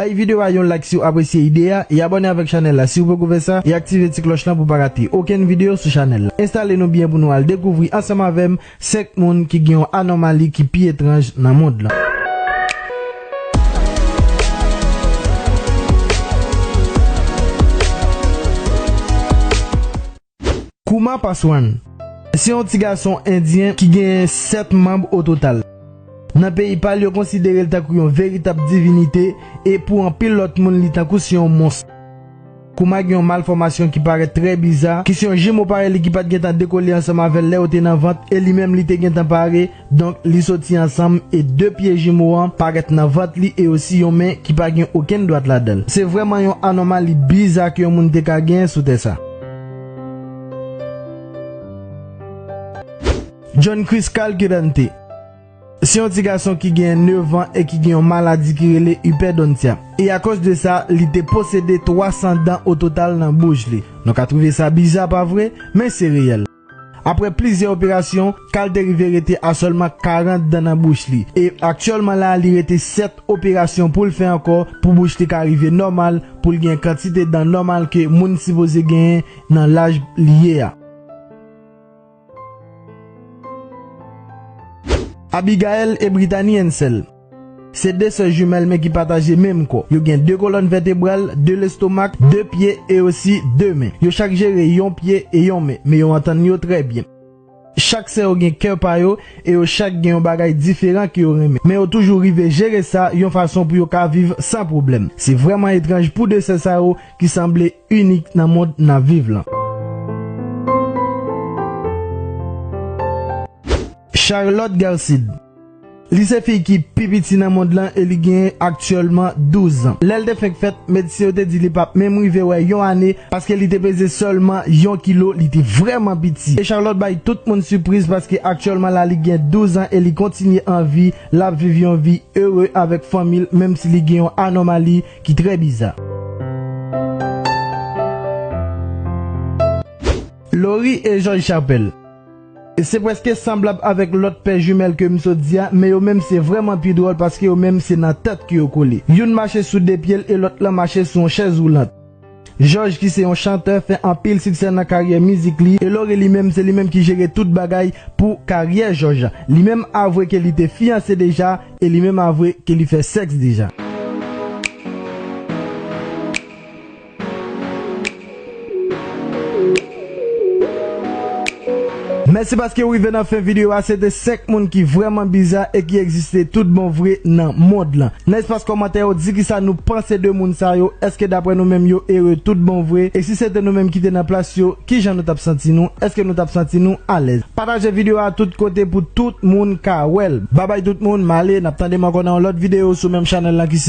Bay video a yon like siw apresye ide a e abòne avèk chanèl la siw poko fè sa e aktive ti klòch lan pou pa rate okenn video sou chanèl la. Enstale nou byen pou nou al dekouvri ansanm avèm 5 moun ki gen yon anòmali ki pi etranj nan mond lan. Kumar Paswan se yon ti gason endyen ki genyen 7 manb o total. Nan peyi pa l yo konsidere l tankou yon veritab divinite e pou anpil lòt moun li tankou se yon mons. Kumar gen yon malfòmasyon ki parèt trè biza ki se yon jimo parèy li ki pat gentan dekole ansanm avè l lè yo te nan vant e li menm li te gentan pare Donk li soti ansanm e de pye jimo an parèt nan vant li e osi yon men ki pa gen okenn dwat ladan l. Se vrèman yon anòmali biza ke yon moun te ka genyen sou tè sa. John Chris Calquirante Se yon ti gason ki genyen nevan e ki gen yon maladi ki rele hyperdontia. E akòz de sa, li te posede 300 dan ototal nan bouch li. Nou ka twouve sa biza, pa vre? Men se reyèl. Aprè plizyè operasyon, Carl te rive rete a sèlman 40 dan nan bouch li. E aktyèlman la li rete 7 operasyon pou l fè ankò pou bouch li ka rive nòmal pou l gen kantite dan nòmal ke moun sipoze genyen nan laj li ye a. Abigaël et Brittany Hensel. Se de sè jimèl men ki pataje menm kò. Yo gen de kolòn vètebral, de lestomak, de pye e osi de men. Yo chak jere yon pye e yon men, men yo antann yo trè byen. Chak sè yo gen kè pa yo e yo chak gen yon bagay diferan ke yo renmen. Men yo toujou rive jere sa yon fason pou yo ka viv san pwoblèm. Se vrèman etranj pou de sè sa yo ki sanble inik nan mond n ap viv lan. Charlotte Garcid. Li se fi ki pi piti nan mond lan e li genyen aktyèlman 12 zan. Lè l te fenk fèt, medsen yo te di li pap menm rive wè yon ane paske li te peze sèlman yon kilo, li te vrèman piti. E Charlotte bay tout moun sipriz paske aktyèlman la li gen 12 zan e li kontinye an vi, l ap viv yon vi ere avèk fanmi l menm si li gen yon anòmali ki trè biza. Laurie et George Chappelle. Se prèske sanblab avèk lòt pè jumèl ke m sot di a, men yo menm se vrèman pi dwòl paske yo menm se nan tèt ke yo kole. Youn mache sou de pye l e lòt lan mache sou yon chèz woulant. Jòj ki se yon chantè fè anpil siksè nan karyè mizik li e Lore li menm se li menm ki jere tout bagay pou karyè Jòj. Li menm avwe ke li te fiyanse deja e li menm avwe ke li fè sèks deja. Mèsi paske ou rive nan fen video a se te 5 moun ki vrèman biza e ki egziste tout bon vre nan mond lan nan espas kòmantè yo di kisa nou panse de moun sa yo èske daprè nou menm yo ere tout bon vre e si se te nou menm ki te nan plas yo kijan nou tap santi nou èske nou tap santi nou alèz pataje video a tout kote pou tout moun ka wèl babay tout moun male nap tandem ankò nan yon lòt video sou menm chanèl lan ki se.